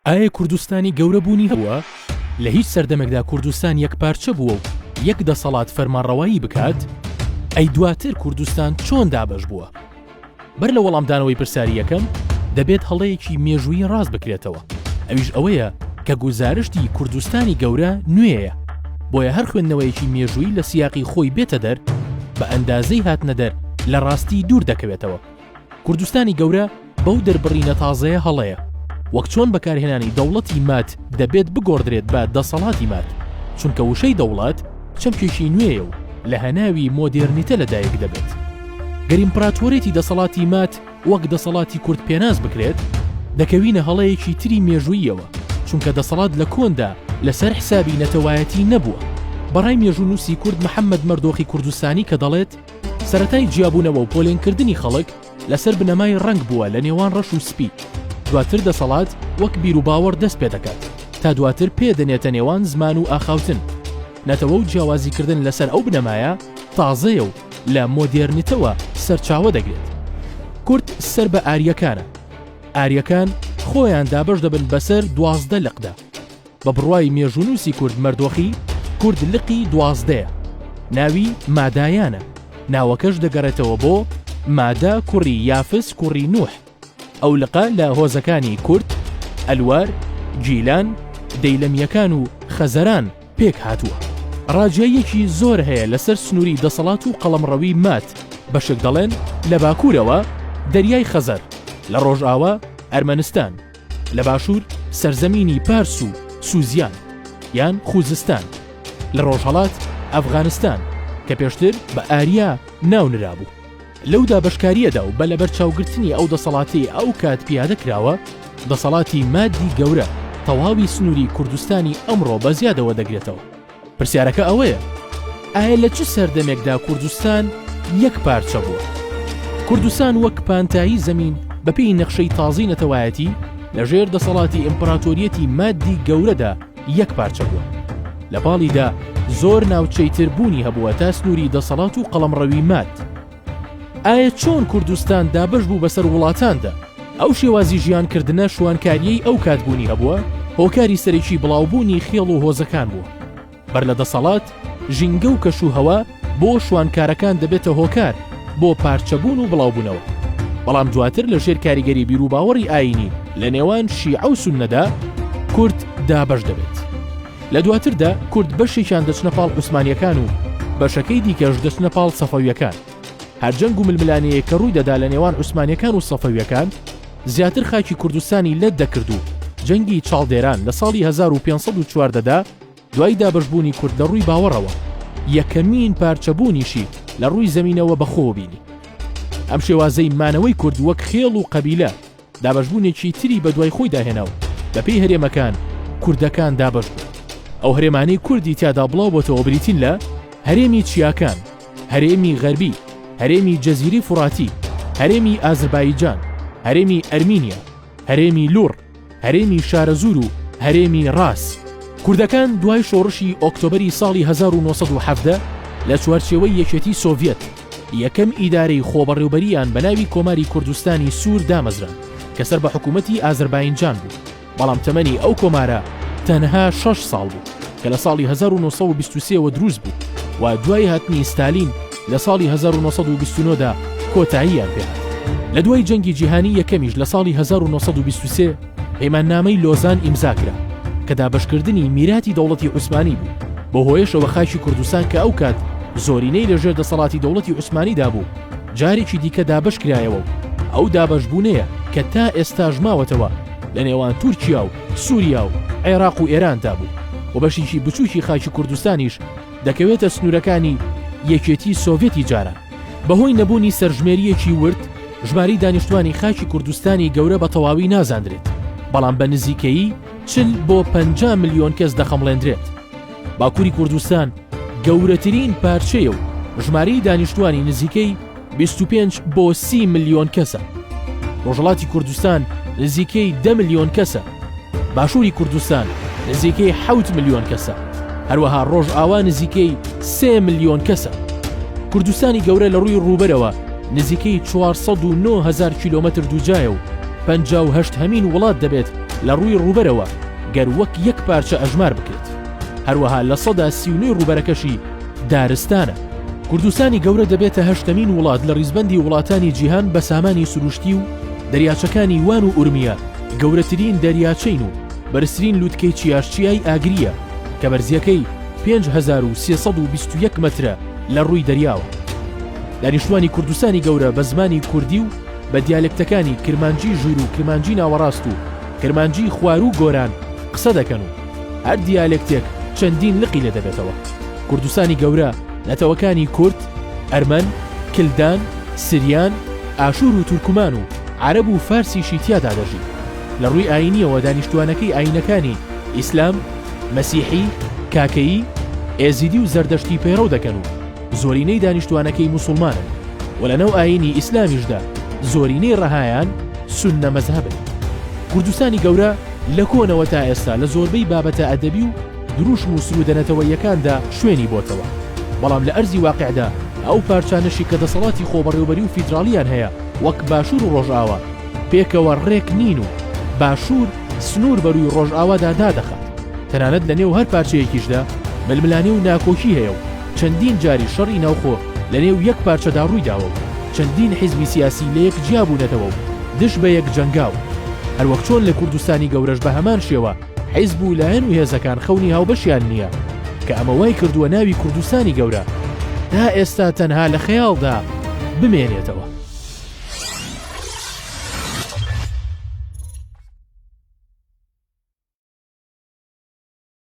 ئایە کوردستانی گەورە بوونی هەبووە؟ لە هیچ سەردەمێکدا کوردستان یەک پارچە بووە و یەک دەسەڵات فەرمانڕەوایی بکات؟ ئەی دواتر کوردستان چۆن دابەش بووە؟ بەر لە وەڵامدانەوەی پرسیاری یەکەم دەبێت هەڵەیەکی مێژوویی ڕاست بکرێتەوە ئەویش ئەوەیە کە گوزارشتی کوردستانی گەورە نوێیە بۆیە هەر خوێندنەوەیەکی مێژووی لە سیاقی خۆی بێتە دەر بە ئەندازەی هاتنەدەر لە ڕاستی دوور دەکەوێتەوە کوردستانی گەورە بەو دەربڕینە تازەیە هەڵەیە وەک چۆن بەکارهێنانی دەوڵەتی مات دەبێت بگۆڕدرێت بە دەسەڵاتی مات چونکە وشەی دەوڵات چەمکێکی نوێیە و لە هەناوی مۆدێرنیتە لەدایک دەبێت گەریمپراتۆرێتی دەسەڵاتی مات وەک دەسەڵاتی کورد پێناس بکرێت دەکەوینە هەڵەیەکی تری مێژوویەوە چونکە دەسەڵات لە کۆندا لەسەر حسابی نەتەوایەتی نەبووە بەڕای مێژوو نووسی کورد محەممەد مەردۆخی کوردستانی کە دەڵێت سەرەتای جیابوونەوە و پۆلێنکردنی خەڵک لەسەر بنەمای ڕەنگ بووە لە نێوان ڕەش و سپی، دواتر دەسەڵات وەک بیروباوەڕ دەست پێ دەکات، تا دواتر پێ دەنێتە نێوان زمان و ئاخاوتن. نەتەوە و جیاوازیکردن لەسەر ئەو بنەمایە تازەیە و لە مۆدێرنتەوە سەرچاوە دەگرێت. کورد سەر بە ئارییەکانە. ئارییەکان خۆیان دابەش دەبن بەسەر دوازدە لقدا. بە بڕوای مێژوونووسی کورد مەردۆخی، کورد لقی دوازدەیە، ناوی مادایانە، ناوەکەش دەگەڕێتەوە بۆ، مادە کوڕی یافس کوڕی نوح، ئەو لقە لە هۆزەکانی کورد، ئەلوار، گیلان، دەیلەمییەکان و خەزەران پێک هاتووە. ڕاجییەکی زۆر هەیە لەسەر سنووری دەسەڵات و قەڵەمڕەوی ماد، بەشێک دەڵێن لە باکوورەوە، دەریای خەزەر، لە ڕۆژاوا، ئەرمەنستان، لە باشوور سەرزەمینی پارس و سوزیان یان خوزستان، لە ڕۆژهەڵات ئەفغانستان کە پێشتر بە ئاریا ناو نرابوو. لەو دابەشکارییەدا و بە لەبەرچاوگرتنی ئەو دەسەڵاتەی ئەو کات پیادە کراوە، دەسەڵاتی مادی گەورە تەواوی سنووری کوردستانی ئەمڕۆ بە زیادەوە دەگرێتەوە. پرسیارەکە ئەوەیە، ئایا لە چ سەردەمێکدا کوردستان یەک پارچە بووە؟ کوردستان وەک پانتایی زەمین بە پێی نەخشەی تازەی نەتەوایەتی لە ژێر دەسەڵاتی ئیمپراتۆریەتی مادی گەورەدا یەک پارچە بووە. لە پاڵیدا زۆر ناوچەی تر بوونی هەبووە تا سنووری دەسەڵات و قەڵەمڕەوی ماد. ئایە چۆن کوردستان دابەش بوو بەسەر وڵاتاندا؟ ئەو شێوازی ژیان کردنە شوانکاریەی ئەو کات بوونی هەبووە، هۆکاری سەرەکی بڵاوبوونی خێڵ و هۆزەکان بووە. بەر لە دەسەڵات، ژینگە و کەش و هەوا بۆ شوانکارەکان دەبێتە هۆکار بۆ پارچەبوون و بڵاوبوونەوە. بەڵام دواتر لە ژێر کاریگەری بیروباوەڕی ئایینی لە نێوان شیعە و سوننەدا، کورد دابەش دەبێت. لە دواتردا کورد بەشێکیان دەچنە پاڵ عوسمانیەکان و بەشەکەی دیکەش دەچنە پاڵ سەفەویەکان. هەر جەنگ و ململانێیەک کە ڕووی دەدا لە نێوان عوسمانیەکان و سەفەویەکان زیاتر خاکی کوردستانی لەت دەکرد و جەنگی چاڵدێران لە ساڵی هەزار و پێنج سەد و چواردە دا دوای دابەشبوونی کورد لە ڕووی باوەڕەوە یەکەمین پارچەبوونیشی لە ڕووی زەمینەوە بەخۆوە بینی. ئەم شێوازەی مانەوەی کورد وەک خێڵ و قەبیلە دابەشبوونێکی تری بە دوای خۆیدا هێنا و بەپێی هەرێمەکان کوردەکان دابەش بوون. ئەو هەرێمانەی کوردی تیادا بڵاو بۆتەوە بریتین لە، هەرێمی چیاکان، هەرێمی غەربی، هەرێمی جەزیرەی فوڕاتی، هەرێمی ئازربایجان، هەرێمی ئەرمینیا، هەرێمی لوڕ، هەرێمی شارەزوور و هەرێمی ڕاس. کوردەکان دوای شۆڕشی ئۆکتۆبەری ساڵی هەزار و نۆ سەد و حەڤدە لە چوارچێوەی یەکێتی سۆڤیەت، یەکەم ئیدارەی خۆبەڕێوبەرییان بەناوی کۆماری کوردستانی سوور دامەزراند کە سەر بە حکوومەتی ئازەرباینجان بوو، بەڵام تەمەنی ئەو کۆمارە تەنها شەش ساڵ بوو کە لە ساڵی هەزار و نۆ سەد و بیست و سێ وە دروست بوو و دوای هاتنی ستالین لە ساڵی هەزار و نۆ سەد و بیست و نۆ دا کۆتاییان پێهات. لە دوای جەنگی جیهانی یەکەمیش لە ساڵی هەزار و نۆ سەد و بیست و سێ، پەیماننامەی لۆزان ئیمزا کرا کە دابەشکردنی میراتی دەوڵەتی عوسمانی بوو بۆ هۆیشەوە خاکی کوردستان کە ئەو کات زۆرینەی لەژێر دەسەڵاتی دەوڵەتی عوسمانیدا بوو جارێکی دیکە دابەش کرایەوە و ئەو دابەشبوونەیە کە تا ئێستاش ماوەتەوە لە نێوان تورکیا و سووریا و عێراق و ئێراندا بوو و بەشێکی بچووکی خاکی کوردستانیش دەکەوێتە سنوورەکانی یەکێتی سۆڤێتی جاران. بەهۆی نەبوونی سەرژمێرییەکی ورد، ژمارەی دانیشتووانی خاکی کوردستانی گەورە بە تەواوی نازاندرێت، بەڵام بە نزیکەیی چل بۆ پەنجا ملیۆن کەس دەخەمڵێندرێت. باکووری کوردستان گەورەترین پارچەیە و ژمارەی دانیشتووانی نزیکەی بیست و پێنج بۆ سی ملیۆن کەسە. ڕۆژهەڵاتی کوردستان نزیکەی دە ملیۆن کەسە. باشووری کوردستان نزیکەی حەوت ملیۆن کەسە هەروەها ڕۆژئاوا نزیکەی سێ ملیۆن کەسە کوردستانی گەورە لە ڕووی ڕووبەرەوە نزیکەی 409هزار کیلومتر دووجایە و پهشت هەمین وڵات دەبێت لە ڕووی ڕووبەرەوە گەر وەک یەک پارچە ئەژمار بکرێت هەروەها لە سەدا سیونی ڕووبەرەکەشی دارستانە کوردستانی گەورە دەبێتە هەشتەمین وڵات لە ڕیزبەندی وڵاتانی جیهان بە سامانی سروشتی و دەریاچەکانی وان و ئورمیە گەورەترین دەریاچەین و بەرزترین لوتکەی چیاش چیای ئاگرییە کە بەرزیەکەی 5321 مەترە لە ڕووی دەریاوە. دانیشتوانی کوردستانی گەورە بە زمانی کوردی و بە دیالێکتەکانی کرمانجی ژوور و کرمانجی ناوەڕاست و کرمانجی خواروو گۆران قسە دەکەن و هەر دیالێکتێک چەندین لقی لێ دەبێتەوە. کوردستانی گەورە نەتەوەکانی کورد، ئەرمەن، کلدان، سریان، ئاشوور و تورکمان و عەرەب و فارسیشی تیادا دەژی. لە ڕووی ئایینییەوە دانیشتووانەکەی ئایینەکانی، ئیسلام، مەسیحی، کاکەیی، ئێزیدی و زەردەشتی پەیڕەو دەکەن و زۆرینەی دانیشتووانەکەی موسوڵمانن و لە ناو ئایینی ئیسلامیشدا زۆرینەی ڕەهایان سوننە مەزهەبن. کوردستانی گەورە لە کۆنەوە تا ئێستا لە زۆربەی بابەتە ئەدەبی و دروشم و سروودە نەتەوەییەکاندا شوێنی بۆتەوە، بەڵام لە ئەرزی واقیعدا ئەو پارچانەشی کە دەسەڵاتی خۆبەڕێوبەری و فیدراڵییان هەیە، وەک باشوور و ڕۆژئاوا پێکەوە ڕێک نین و باشوور سنوور بەرووی ڕۆژئاوادا دادەخات، تەنانەت لە نێو هەر پارچەیەکیشدا ململانێ و ناکۆکی هەیە و چەندین جاریش شەڕی ناوخۆ لە نێو یەک پارچەدا ڕوویداوە و چەندین حیزبی سیاسی لەیەک جیابوونەتەوە و دژ بەیەک جەنگاون هەروەک چۆن لە کوردستانی گەورەش بەهەمان شێوە حیزب و لایەن و هێزەکان خەونی هاوبەشیان نییە کە ئەمە وای کردووە ناوی کوردستانی گەورە تا ئێستا تەنها لە خەیاڵدا بمێنێتەوە.